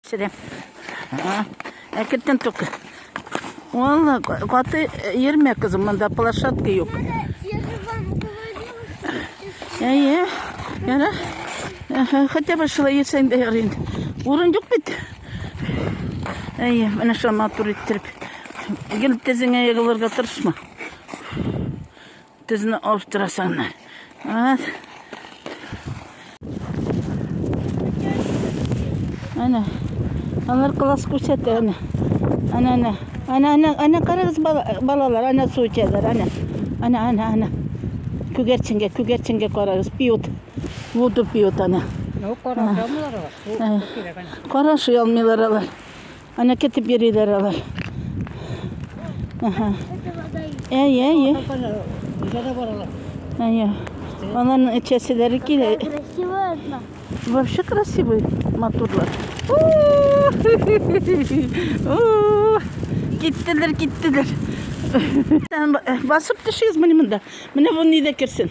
Сәлам. Әкеттен только. Валла, каты ермә кызым, монда площадка юк. Әйе, яра. Хотя бы шулай етсәң дә ярый. Урын юк бит. Әйе, менә шуны матур иттереп. Гел тезеңә егылырга тырышма. Тезне алып торасың. Ат. Әнә. Алар класс күрсәтә, әнә. Әнә, әнә. Әнә, әнә, әнә карагыз балалар, әнә су эчәләр, әнә. Әнә, әнә, әнә. Күгәрченгә, күгәрченгә карагыз, пьют. Воду пьют, әнә. Ну, карашамылар. Карашый алмыйлар алар. Аны кетеп йөриләр алар. Әһә. Әй, әй, әй. Җәдә баралар. Әй. Аларның эчәселәре килә. Красивая одна. Вообще красивый моторлар. Киттеләр, киттеләр. Басып төшегез менә монда. Менә бу нидә керсен.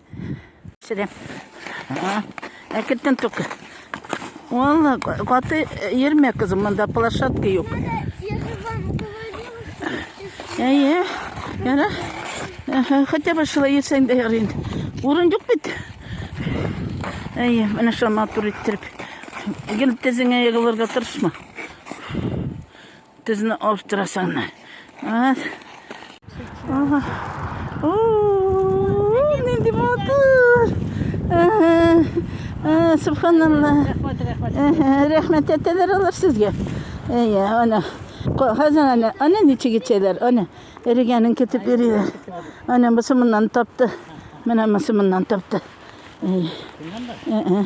Сәләм. Әкертен только. Валла, каты ермә кызым, монда площадка юк. Әйе. Яра. Хотя бы шулай йөрсәң дә ярый инде. Урын юк бит. Әйе, менә шуны матур иттереп. Гел тезеңә егылырга тырышма. Тезне алып торасың. Ас. Ага. Уу, нинди матур. Ага. Э, Субханалла. Ага, Рәхмәт әтәләр алар сезгә. Әйе, ана. Ко- Хәзер ана, ана ничек итәләр? Ана, эрегәнен китеп йөриләр. Ана бусы моннан тапты. Менә бусы моннан тапты. Әйе. Ә-ә.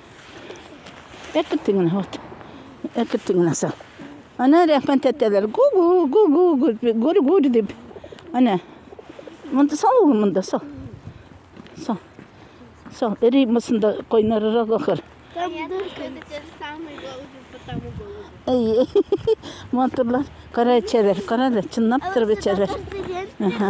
Әкетте генә, вот. Әкетте генә сал. Ана рәхмәт әтәләр. Гу-гу, гу-гу, гүр-гүр дип. Ана. Монда сал ул монда сал. Сал. Сал. Эри мусында койнарырак ахыр. Там дырка. Әй, матурлар. Кара эчәләр, кара да, чынлап торып эчәләр. Ага.